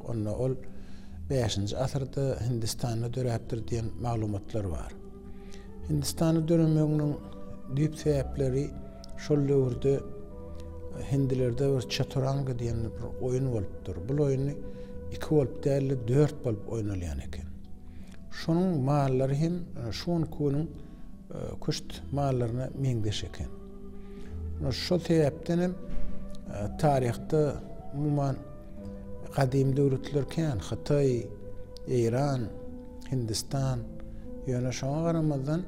Onda ol bäşinji asyrda Hindistanda döräpdir diýen maglumatlar bar. Hindistanda döremeginiň düýp sebäpleri şol döwürde hindilerde bir çaturanga diýen bir oýun bolupdyr. Bu oýun iki bolup däl-de dört bolup oýnalýan eken. Şonuň mallary hem e, şu günki günüň e, küşt mallaryna meňzeş eken. Şol sebäpden hem e, taryhda umuman Gadymy döwletler kän, Hytaý, Eýran, Hindistan. Ýöne şoňa garamazdan,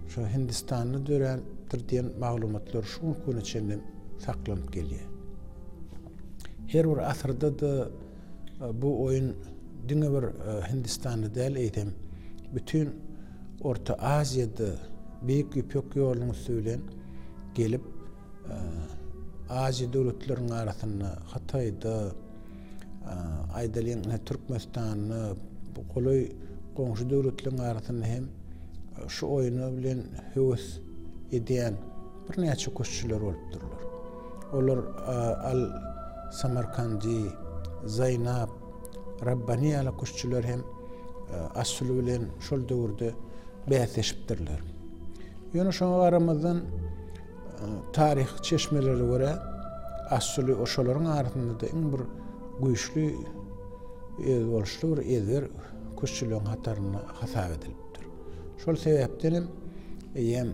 şu Hindistanda dörändir diýen maglumatlar şu günki güne çenli saklanyp gelýär. Her bir asyrda-da e, bu oýun diňe bir e, Hindistanda däl, eýsem bütin Orta Aziýada Beýik Ýüpek ýolunyň üsti bilen gelip, Aziýa döwletleriniň arasynda Hytaýda aýdylýan Türkmenistanda bu golaý goňşy döwletleriň arasynda hem şu oýna bilen höwes edýän birnäçe küştçüler bolup durlar. Olar al Samarkandi, Zaýnap, Rabbani ýaly küştçüler hem Asuly bilen şol döwürde bäsleşipdirler. Ýöne şoňa garamazdan Taryhy çeşmelere görä, Assuly oşalaryň arasynda-da iň bir güýçli we özboluşly bir ezber küştçüligiň hatarynda hasap edilipdir. Şol sebäpden hem eýýäm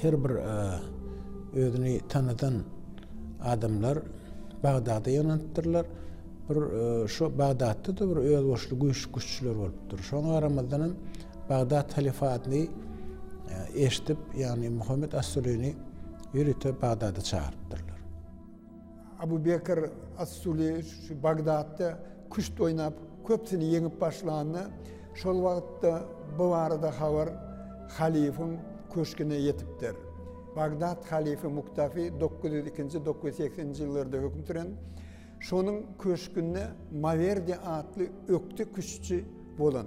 her bir özüni tanadan adamlar Bagdada ýygnanypdyrlar. Bir şu Bagdatda-da bir özboluşly güýçli küştçüler bolupdyr. Şoňa garamazdan hem Bagdat halifatyny eşidip, ýagny Muhammet as-Sulyny ýörite Bagdada çagyrypdyrlar. Abu Bekr as-Suly şu Bagdatda küşt oýnap, köpüsini ýeňip başlanda, şol wagtda bu barada habar halyfyň köşgüne ýetipdir. Bagdat halyfy Muktafy dokuz ýüz ikinji-dokuz ýüz sekizinji ýyllarda höküm süren. Şonuň köşgünde Mawerdi atly ökde küştçi bolan.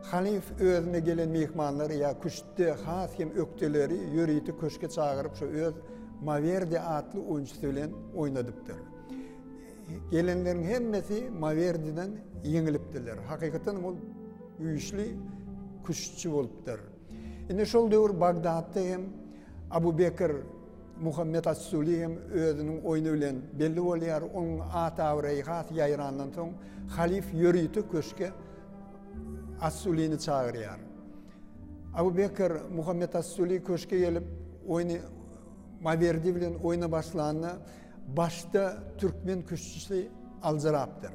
Halyf özüne gelen myhmanlary ýa küştde has hem ökdeleri ýörite köşge çagyryp şo öz Mawerdi atly oýunçysy bilen oýnadypdyr. Gelenleriň hemmesi Mawerdiden ýeňilipdirler. Hakykatan ol güýçli küştçi bolupdyr. Indi şol döwür Bagdatda hem Abu Bekr Muhammet As-Suly hem özüniň oýny bilen belli bolýar, onuň at-abraýy has ýaýrandan soň, halyf ýörite köşge As-Sulyny çagyrýar. Abu Bekr Muhammet As-Suly köşge gelip, oýny Mawerdi bilen oýna başlanda, başda türkmen küştçüsi aljyrapdyr.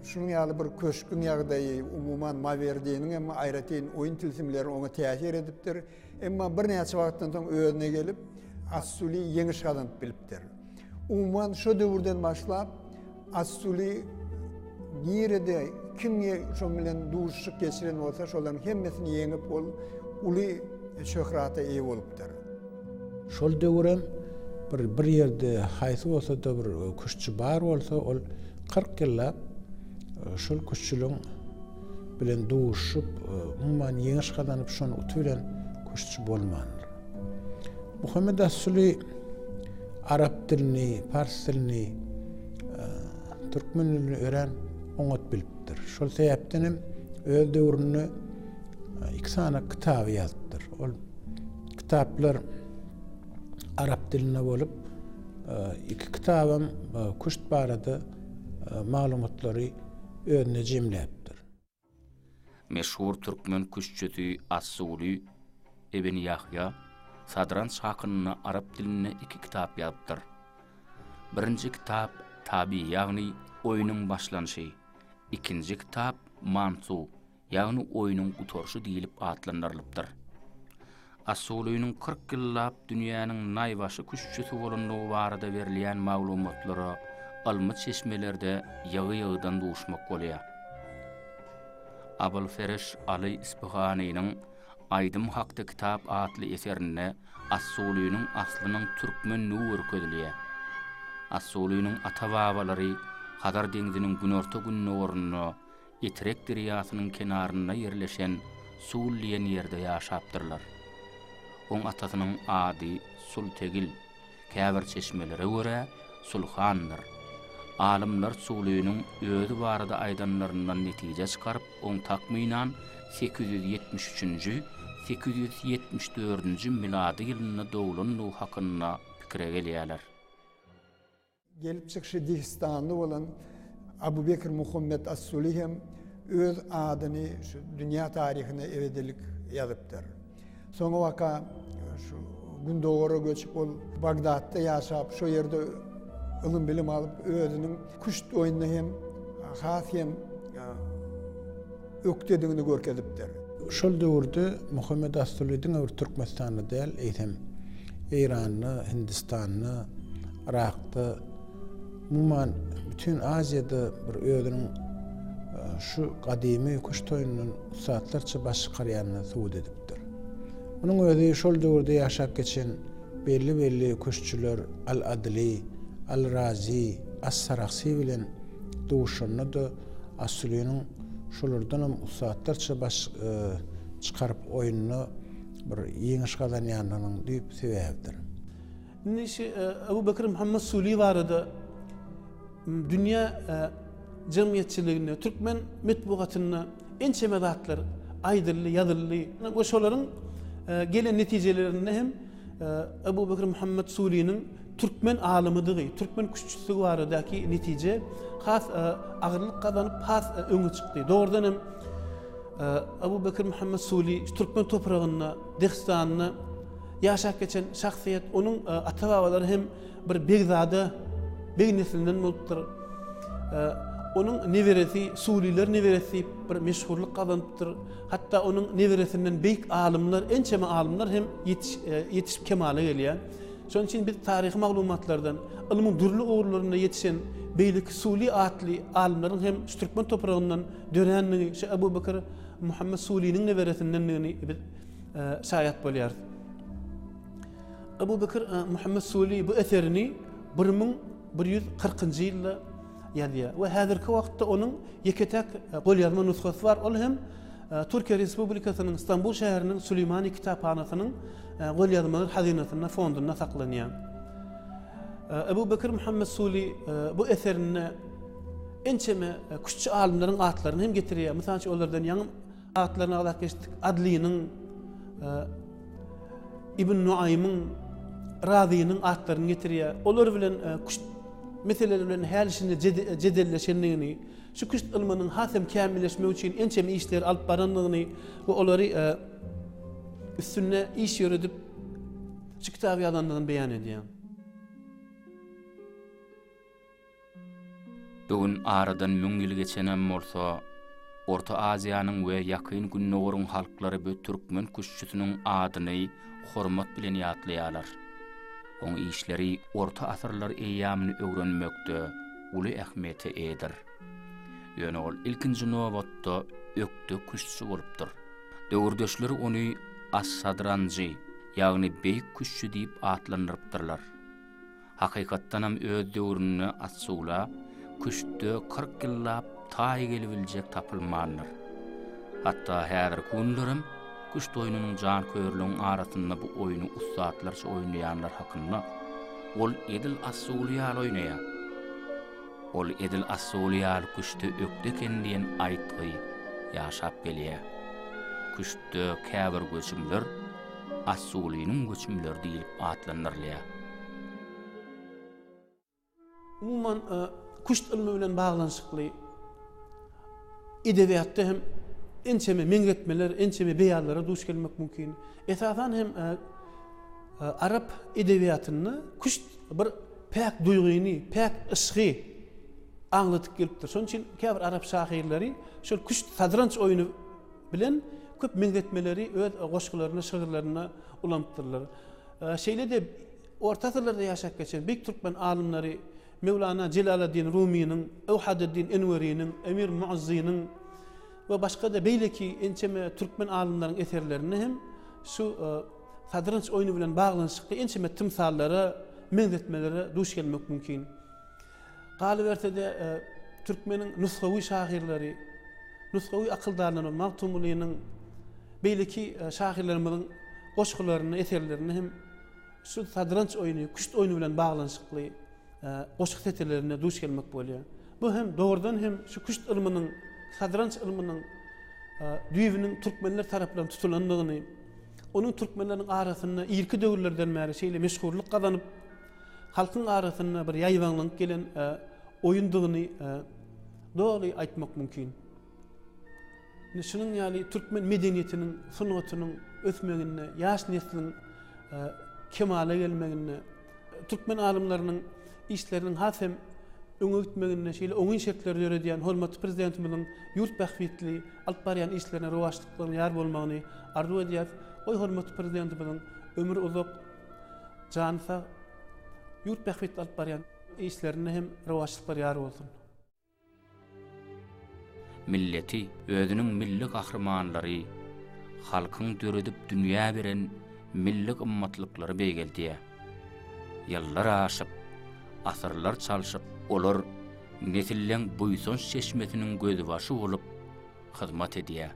Şunuň ýaly bir köşgüň ýagdaýy, umuman, Mawerdiniň hem aýratyn oýun tilsimleri oňa täsir edipdir. Emma birnäçe wagtdan soň özüne gelip, Assuly ýeňiş gazanyp bilipdir. Umuman, şo döwürden başlap, Assuly nirede, kim şoň bilen duşuşyk geçiren bolsa, şolaryň hemmesini ýeňip, ol uly şöhrata eýe bolupdyr. Şol döwür hem bir bir ýerde haýsy bolsa-da bir küştçi bar bolsa, ol kyrk ýyllap şol küştçiligiň bilen duşup, umuman ýeňiş gazanyp, şony uty bilen küştçi bolmandyr. Muhammet Assuly arap dilini, pars dilini, türkmen dilini ören oňat bilipdir. Şol sebäpden hem öz döwründe iki sany kitaby ýazypdyr. Ol kitaplar arap dilinde bolup, iki kitabam küşt barada maglumatlary özünde jemläpdir. Meşhur türkmen küştçüsi As-Suly ibn Ýahýa Sadranç hakynda arap dilinde iki kitap ýazypdyr. Birinji kitap Tabi ýagny oýnuň başlanyşy, ikinji kitap Mansu ýagny oýnuň gutaryşy diýlip atlandyrylypdyr. Assulynyň kyrk ýyllap dünýäniň naýbaşy küştçüsi bolandygy barada berilýän maglumatlara ylmy çeşmelerde ýygy-ýygydan duşmak bolýar. Abylfereş Aly Yspyhanynyň Aýdym hakda kitap atly eserinde Assulynyň aslynyň türkmendigi görkezilýär. Assulynyň ata-babalary Hazar deňziniň günorta-gündogarynda Etrek derýasynyň kenarynda ýerleşen Sul diýen ýerde ýaşapdyrlar. Oň atasynyň ady Sultegil, käbir çeşmelere görä, Sulhandyr. Alymlar Sulynyň özi barada aýdanlaryndan netije çykaryp, oň takmynan sekiz ýüz ýetmiş üçünji, sekiz ýüz ýetmiş dördünji milady ýylynda doglandygy hakynda pikire gelýärler. Gelip çykyşy dehistanly bolan Abu Bekr Muhammet As-Suli hem öz adyny şu dünýä taryhyna ebedilik ýazypdyr. Soňabaka şu Gündogara göçüp ol Bagdatda ýaşap, şo ýerde ylym-bilim alyp, özüniň küşt oýnuna hem has hem ökdedigini görkezipdir. Şol döwürde Muhammet As-Suli diňe bir Türkmenistanda däl, eýsem, Eýranda, Hindistanda, Yrakda, umuman, bütin Aziýada bir özüniň şu gadymy kuş toýundan ussatlarça baş çykarýanyny subut edipdir. Munuň özi şol döwürde ýaşap geçen belli-belli kuşçular Al-Adyly, Al-Razy, As-Sarahsy bilen duşanda-da As-Suliniň Şolardanam ussatlarça baş çykaryp oýunda bir ýeňiş gazanýandygynyň düýp sebäbidir. Indi şu Abu Bekir Muhammet Suly barada dünýä jemgyýetçiliginde, türkmen metbugatynda ençeme zatlar aýdyldy, ýazyldy we şolaryň gelen netijelerinde hem Abu Bekir Muhammet Sulynyň türkmen alymydygy, türkmen küştçüsdigi baradaky netije has agyrlyk gazanyp, has öňe çykdy. Dogrudan hem, Abu Bekir Muhammed Suli türkmen topragynda, Dehistanda ýaşap geçen şahsyýet, onuň ata-babalary hem bir begzada, beg neslinden bolupdyr. Onuň neberesi Suliler neberesi diýip bir meşhurlyk gazanypdyr. Hatda onuň neberesinden beýik alymlar, ençeme alymlar hem ýetişip kemala gelýär. Şonuň üçin biz taryhy maglumatlardan ylmyň dürli ugurlarynda ýetişen beýleki Suly atly alymlaryň hem şu türkmen topragyndan dörändigi, şu Ebu Bekir Muhammet Sulynyň neberesindendigini biz şaýat bolýarys. Ebu Bekir Muhammet Suly bu eserini bir müň bir ýüz kyrkynjy ýylda ýazýar we häzirki wagtda onuň ýeke-täk golýazma nusgasy bar, ol hem Türkiýe Respublikasynyň Stambul şäheriniň Süleýmani kitaphanasynyň golýazmalar hazynasynda, fondunda saklanýar. Ebu Bekir Muhammet Suli bu eserinde ençeme küştçi alymlaryň atlaryny hem getirýär. Mysal üçin, olardan ýaňy Atlaryny agzap geçdik. Adlynyň, Ibn Nuaýmyň, Razynyň atlaryny getirýär. Olar bilen küşt meseleleri bilen häli şindi jedelleşendigini, şu küşt ylmynyň has hem kämilleşmegi üçin ençeme işleri alyp barandygyny we olary üstünde iş ýöredip şu kitaby ýazandygyny beýan edýär. Bu gün aradan müň ýyl geçenem bolsa, Orta Aziýanyň we Ýakyn Gündogaryň halklary bu türkmen küştçüsiniň adyny hormat bilen ýatlaýarlar. Oň işleri orta asyrlar eýýamyny öwrenmekde uly ähmiýete eýedir. Ýöne ol ilkinji nobatda ökde küştçi bolupdyr. Döwürdeşler ony As-Sadranjy, ýagny Beýik küştçi diýip atlandyrypdyrlar. Hakykatdanam öz döwründe At-Sugla küştde kyrk ýyllap taý gelibiljek tapylmandyr. Hatda häzirki günlerem küşt oýnunyň janköýerligiň arasynda bu oýny ussatlarça oýnaýanlar hakynda, Ol edil At-Sugly ýaly oýnaýar. Ol edil At-Sugly ýaly küştde ökde eken diýen aýtgy ýaşap gelýär. Küştde käbir göçümler Assulynyň göçümleri diýlip atlandyrylýar. Umuman, küşt ylmy bilen baglanyşykly edebiýatda hem ençeme meňzetmeler, ençeme beýanlara duş gelmek mümkin. Esasan hem arap edebiýatynda küşt bir päk duýgyny, päk yşgy aňladyp gelipdir. Şonuň üçin käbir arap şahyrlary şol küşt, sadranç oýny bilen köp meňzetmeleri öz goşgularynda, şygyrlarynda ulanypdyrlar. Şeýle-de orta asyrlarda ýaşap geçen beýik türkmen alymlary Mewlana Jelaleddin Rumynyň, Ewhadeddin Enweriniň, Emir Muazzynyň we başga-da beýleki ençeme türkmen alymlaryň eserlerinde hem şu sadrynç oýny bilen baglanyşykly ençeme tymsallara, meňzetmelere duş gelmek mümkin. Galyberse-de, türkmeniň nusgawy şahyrlary, nusgawy akyldarlary Magtymgulynyň, beýleki şahyrlarymyzyň goşgularyny, eserlerini hem şu sadranç oýny, küşt oýny bilen baglanyşykly goşgy setirlerinde duş gelmek bolýar. Bu hem dogrudan hem şu küşt ylmynyň, sadranç ylmynyň düýbüniň türkmenler tarapyndan tutulandygyny, onuň türkmenleriň arasynda irki döwürlerden bäri şeýle meşhurlyk gazanyp, halkyň arasynda bir ýaýbaňlanyp gelen oýundygyny doly aýtmak mümkin. Indi şunuň ýaly türkmen medeniýetiniň, sungatynyň ösmeginde, ýaş nesliň kemala gelmeginde, türkmen alymlarynyň işleriniň has hem öňe gitmeginde şeýle oňyn şertleri döredýän hormatly Prezidentimiziň ýurt bähbitli alyp barýan işlerine rowaçlyklaryň ýar bolmagyny arzuw edýäris. Goý, hormatly Prezidentimiziň ömri uzak, Jany sag, ýurt bähbitli alyp barýan işlerinde hem rowaçlyklar ýar bolsun. Milleti, özüniň milli gahrymanlary, halkyň döredip dünýä beren milli gymmatlyklary beýgeldýär. Ýyllar aşyp, asyrlar çalşyp, olar nesilleň buýsanç çeşmesiniň gözbaşy bolup hyzmat edýär.